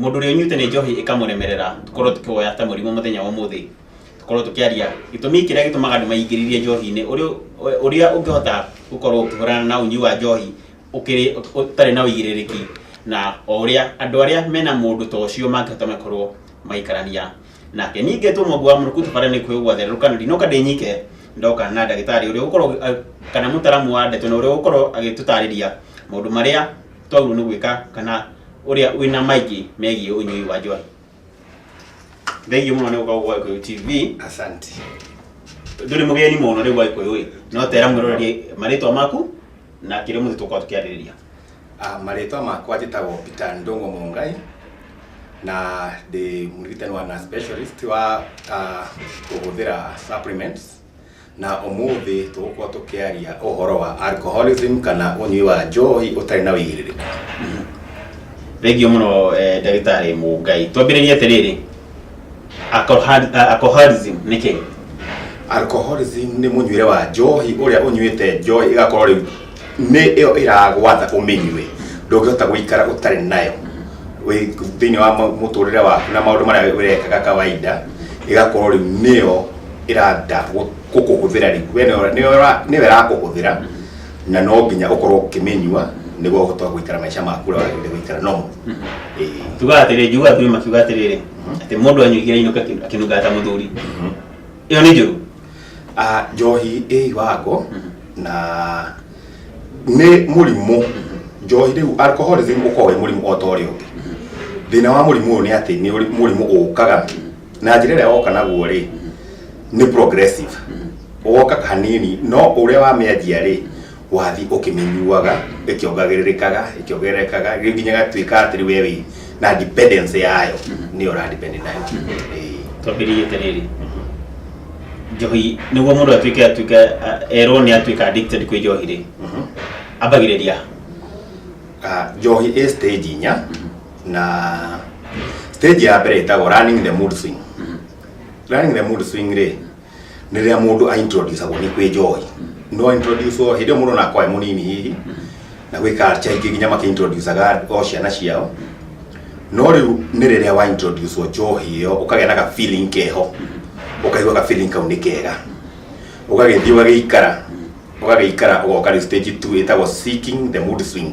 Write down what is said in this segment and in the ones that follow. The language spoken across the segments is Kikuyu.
Mũndũ ũrĩa ũnyuĩte nĩ njohi ĩkamũremerera, tũkorwo tũkĩwoya ta mũrimũ mũthenya wa ũmũthĩ, tũkorwo tũkĩaria gĩtũmi kĩrĩa gĩtũmaga andũ maingĩrĩrie njohi-inĩ, ũrĩa- ũrĩa ũngĩhota gũkorwo ũkĩhũrana na ũnyui wa njohi ũkĩrĩ ũtarĩ na ũigĩrĩrĩki, na o ũrĩa andũ arĩa mena mũndũ ta ũcio mangĩhota makorwo magĩikarania nake. Niĩ ingĩtwo mũmbi wa mũrukĩ tũbare nĩ kwĩgwa therũka, na ndinoka ndĩ nyike, ndoka na ndagĩtarĩ ũrĩa ũgũkorwo, kana mũtaramu wa ndeto na ũrĩa ũgũkorwo agĩtũtarĩria maũndũ marĩa twagĩrĩirwo nĩ gwĩka kana ũrĩa wĩna maingĩ megiĩ ũnyui wa njohi thengiũ mũno nĩ gũkorwo gwa gĩkũyũ tv asante ndũrĩ mũgeni mũno rĩu wa gĩkũyũ ĩ no tera mwĩrorerie marĩtwa maku na kĩrĩa mũthĩ tũkorwo tũkĩarĩrĩria Ah, marĩtwa makwa njĩtagwo peter ndongo mũngai na ndĩ mũrigitani wa na specialist wa ah, kũhũthĩra supplements Na ũmũthĩ tũgũkorwo tũkĩaria ũhoro wa alcoholism kana ũnyui wa njohi ũtarĩ na ũigĩrĩrĩku. Thengiũ mũno eh, ndagĩtarĩ Mũngai. Twambĩrĩrie atĩrĩrĩ, alcohol- ah, alcoholism nĩ kĩĩ? Alcoholism nĩ mũnyuĩre wa njohi ũrĩa ũnyuĩte njohi ĩgakorwo rĩu nĩ ĩyo ĩragwatha ũmĩnyue ndũngĩhota gũikara ũtarĩ nayo Wĩ- thĩinĩ wa ma- mũtũrĩre waku na maũndũ marĩa ũrekaga kawaida ĩgakorwo rĩu nĩyo ĩranda gũkũhũthĩra rĩ we nĩwe- nĩwe ũra- nĩwe ĩrakũhũthĩra na no nginya ũkorwo ũkĩmĩnyua nĩguo ũhote gũikara maica maku ũrĩa wagĩrĩire gũikara no tugaga atĩrĩrĩ njugaga tuge makiuga atĩrĩrĩ atĩ mũndũ anyuigira inũka akĩ- akĩnungaga ta mũthuri ĩyo nĩ njũru Ah, njohi ĩ iwango na nĩ mũrimũ njohi rĩu alcoholism ũkoragwo wĩ mũrimũ o ta ũrĩa ũngĩ thĩna wa mũrimũ ũyũ nĩ atĩ nĩ ũrĩ- mũrimũ ũkaga na njĩra ĩrĩa woka naguo rĩ nĩ progressive woka hanini no ũrĩa wamĩanjia rĩ wathi ũkĩmĩnyuaga ĩkĩongagĩrĩrĩkaga ĩkĩongererekaga rĩu nginya gatuĩka atĩ rĩu wewe na dependence yayo nĩyo ũradepend nayo Ĩĩ. twambĩrĩrie atĩrĩrĩ njohi nĩguo mũndũ atuĩke atuĩke erwo nĩ atuĩka addicted kwĩ njohi rĩ Mhm. ambagĩrĩria Ah, njohi ĩ stage inya na stage ya mbere ĩtagwo running the mood swing running the mood swing rĩ nĩ rĩrĩa mũndũ aintroducagwo nĩ kwĩ njohi no introducwo hĩndĩ ĩyo mũndũ nakwa e mũnini hihi na gwĩ culture ingĩ nginya makĩintroducaga o ciana ciao no rĩu nĩ rĩrĩa wa introducwo njohi ĩyo ũkagĩa na ga feeling keho ũkaigua ga feeling kau nĩ kega ũgagĩthiĩ ũgagĩikara ũgagĩikara ũgoka rĩu stage 2 ĩtagwo seeking the mood swing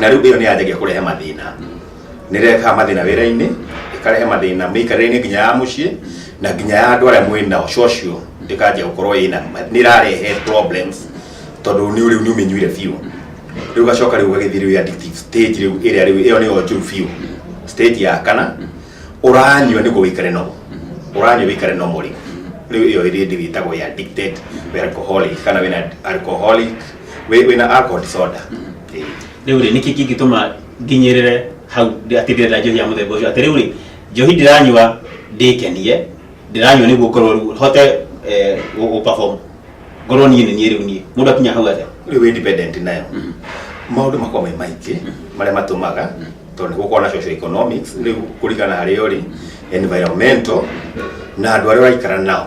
na rĩu ĩyo nĩ yanjagia kũrehe mathĩna nĩ rehaga mathĩna wĩra-inĩ ĩkarehe mathĩna mĩikarĩre-inĩ nginya ya mũciĩ na nginya ya andũ arĩa mwĩ nao cocio ĩkanjia gũkorwo ĩna nĩ ĩrarehe problems tondũ nĩ rĩu nĩ ũmĩnyuire biũ rĩu ũgacoka rĩu ũgagĩthiĩ rĩu addictive stage rĩu ĩrĩa rĩu ĩyo nĩyo njũru biũ stage ya kana ũranyua nĩguo wĩikare nomo ũranyua wĩikare nomo rĩu rĩu ĩyo ĩrĩ ndĩ wĩtagwo ya addicted wĩ alcoholic kana wĩna alcoholic wĩ- wĩna alcohol disorder rĩu rĩ nĩkĩ kĩngĩtũma nginyĩrĩre hau ndĩ- atĩ ndĩrenda njohi ya mũthemba ũcio atĩrĩu rĩ njohi ndĩranyua ndĩkenie ndĩranyua nĩguo ngorwo rĩu hote eh, gũ- gũ perform ngorwo niĩ nĩ niĩ rĩu niĩ mũndũ akinya hau atĩa rä u independent nayo maå ndå makorwo me maingä marä a matå maga tondå nä gå korwo na social economics rä u kå ringana harä o rä environmental na andå arä a å raikara nao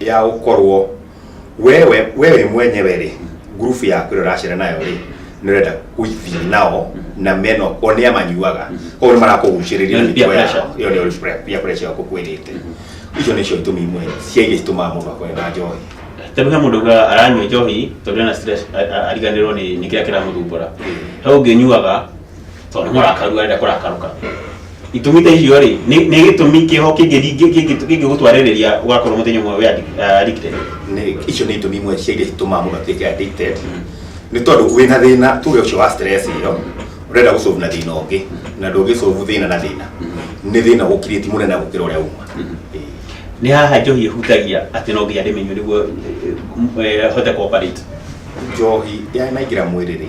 ya gũkorwo we we we we mwenyewe rĩ ngurubu yaku ĩrĩa ũracera nayo rĩ nĩ ũrenda gũthiĩ nao na meno o nĩ amanyuaga koguo nĩ marakũgucĩrĩria Nĩ peer mĩtugo yao. pressure. ĩyo nĩyo peer- peer pressure ĩyo ngũkwĩrĩte icio nĩcio itũmi imwe cia iria citũmaga mũndũ akorwo na njohi tondå he må ndå aranyua njohi tondå ena stress, a- a- ariganä rwo nä kä rä a kä ramå thumbå ra he å ngä nyuaga tondå kå rakaru arenda kå rakarå ka itumi ta icio rä nä gä tå mi kä ho kä ngä gå twarä rä ria wakorwo må thenya å mwe nĩ icio nĩ itũmi imwe cia iria itũmaga mũndũ atuĩke addicted nĩ tondũ wĩ na thĩna tuge ũcio wa stress ĩyo ũrenda gũcovu na thĩna ũngĩ na ndũngĩcovu thĩna na thĩna nĩ thĩna ũkirĩti mũnene gũkĩra ũrĩa uma nĩ haha njohi ĩhutagia atĩ no nginya ndĩmenywo nĩguo eh, hote kũoperate njohi yanaingĩra mwĩrĩ rĩ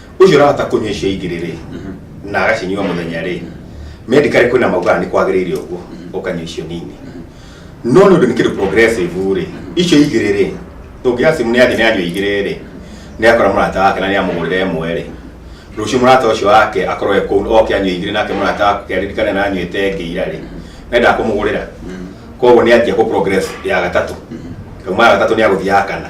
ũcio ũrahota kũnyua icio ingĩ rĩrĩ na agacinyua mũthenya rĩ medically kwĩna maugaga nĩ kwagĩrĩire ũguo ũkanyua icio nini no nĩ ũndũ nĩ kĩndũ progressive rĩ icio igĩrĩ rĩ ũngĩoya simu nĩ athi nĩ anyua igĩrĩ rĩ nĩ akora mũrata wake na nĩ amũgũrĩra ĩmwe rĩ rũciũ mũrata ũcio wake akorwo e kũu oke anyua igĩrĩ nake mũrata wake aririkane na anyuĩte ĩngĩ ira rĩ nenda kũmũgũrĩra koguo nĩ anjia kũ progress ya gatatũ kauma ya gatatũ nĩ agũthiaga kana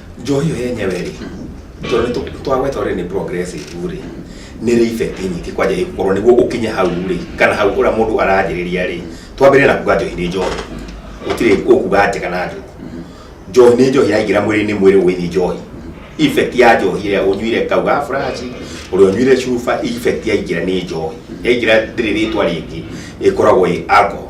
njohi ĩyo yenyewe rĩ tondũ nĩ tũ- twagweta ũrĩa nĩ progressive rĩ nĩ rĩ effect nyingĩ kwanja ĩkorwo nĩguo ũkinye hau rĩ kana hau ũrĩa mũndũ aranjĩrĩria rĩ twambĩrĩria na kuga njohi nĩ njohi gũtirĩ ũkuga njega na njũru njohi nĩ njohi yaingĩra mwĩrĩ-inĩ mwĩrĩ ũgĩthiĩ njohi effect ya njohi ĩrĩa ũnyuire kauga furaci ũrĩa ũnyuire cuba effect yaingĩra nĩ njohi yaingĩra ndĩrĩ rĩtwa rĩngĩ ĩkoragwo ĩ alcohol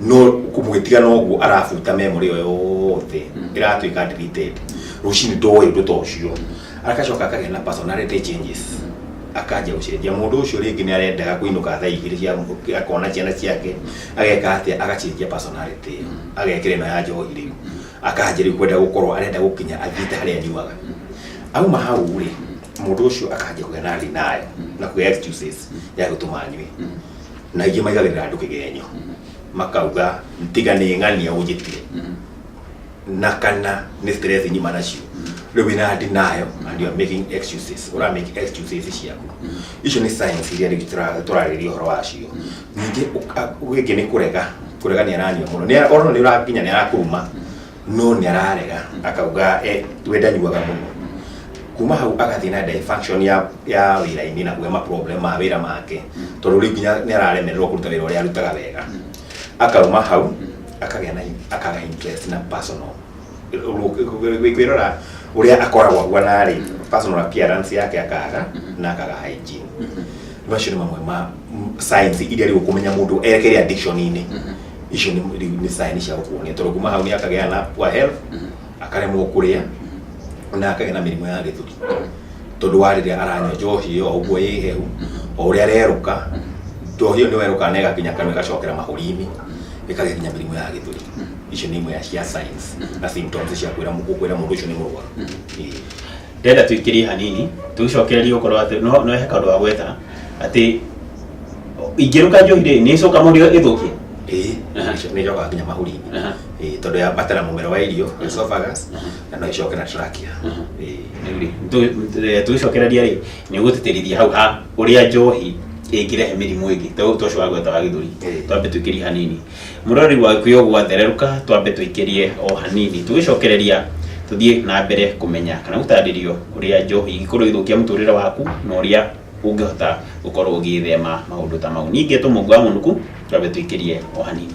no kũgĩtiga noguo arabuta memory ĩyo yothe ĩratuĩka deleted rũcinĩ ndoĩ ũndũ ta ũcio agacoka akagĩa na personality changes akanjia gũcenjia mũndũ ũcio rĩngĩ nĩ arendaga kũinũka thaa igĩrĩ cia mũthũkĩ akona ciana ciake ageka atĩa agacenjia personality ĩyo agekĩra ĩno ya njohi rĩu akanjia rĩu kwenda gũkorwo arenda gũkinya athiĩte harĩa anyuaga auma hau rĩ mũndũ ũcio akanjia kũgĩa na thĩ nayo na kũgĩa excuses ya gũtũma anyue na ingĩ maigagĩrĩra andũ kĩgenyo makauga tiga nĩ ng'ania ũnjĩtire na kana nĩ stress nyima nacio rĩu wĩna denial and you are making excuses ura make excuses ciaku icio nĩ science iria rĩu tũra- tũrarĩrĩria ũhoro wacio ningĩ ũka- gĩkĩ nĩ kũrega kũregania na nyua mũno Nĩ- ona nĩ ũrakinya nĩ arakũruma no nĩ ararega akauga eh, we ndanyuaga mũno kuma hau agathiĩ na dysfunction ya ya wĩra-inĩ na kuoya maproblem ma wĩra make tondũ rĩu nginya nĩ araremererwo kũruta wĩra ũrĩa arutaga wega akauma hau akagĩa na akaga interest na personal kwĩrora ũrĩa akoragwo ahuana rĩ personal appearance yake akaga na akaga hygiene macio nĩ mamwe ma m- signs iria rĩu kũmenya mũndũ erekere addiction-inĩ icio nĩ- rĩu nĩ sign cia gũkuonia tondũ kuma hau nĩ akagĩa na poor health akaremwo kũrĩa na akagĩa na mĩrimũ ya gĩthũri tondũ wa rĩrĩa aranyua njohi ĩyo o ũguo ĩ hehu o ũrĩa arerũka njohi ĩyo nĩ werũka na ĩgakinya kanua ĩgacokera mahũri-inĩ ĩkagĩa nginya mĩrimũ ya gĩthũri icio nĩ imwe ya cia signs na symptoms cia kwĩra mũ- gũkwĩra mũndũ ũcio nĩ mũrwaru Ĩĩ. ndĩrenda tũingĩrie hanini tũgĩcokereria gũkorwo atĩ no no heka ũndũ wa gwetana atĩ ingĩruka njohi rĩ nĩ ĩcoka mũndũ ĩthũkie ĩĩ Aha. icio nĩ icokaga nginya mahũri-inĩ Aha. Ĩĩ, tondũ yambata na mũmero wa irio esophagus na no icoke na trachea Aha. Ĩĩ. tũgĩcokereria rĩ nĩ ũgũtĩtĩrithia hau ha ũrĩa njohi ĩngĩrehe mĩrimũ ĩngĩ ta ũyũ ta ũcio wa gweta wa gĩthũri Ĩĩ. twambe tũingĩrie hanini Mũrori wa gĩkũyũ gwathererũka twambe tũikĩrie o hanini tũgĩcokereria tũthiĩ na mbere kũmenya kana gũtarĩrio ũrĩa njohi ingĩkorwo igĩthũkia mũtũrĩre waku na ũrĩa ũngĩhota gũkorwo ũgĩthema maũndũ ta mau niĩ ngetwo mũngu wa mũnuku twambe tũikĩrie o hanini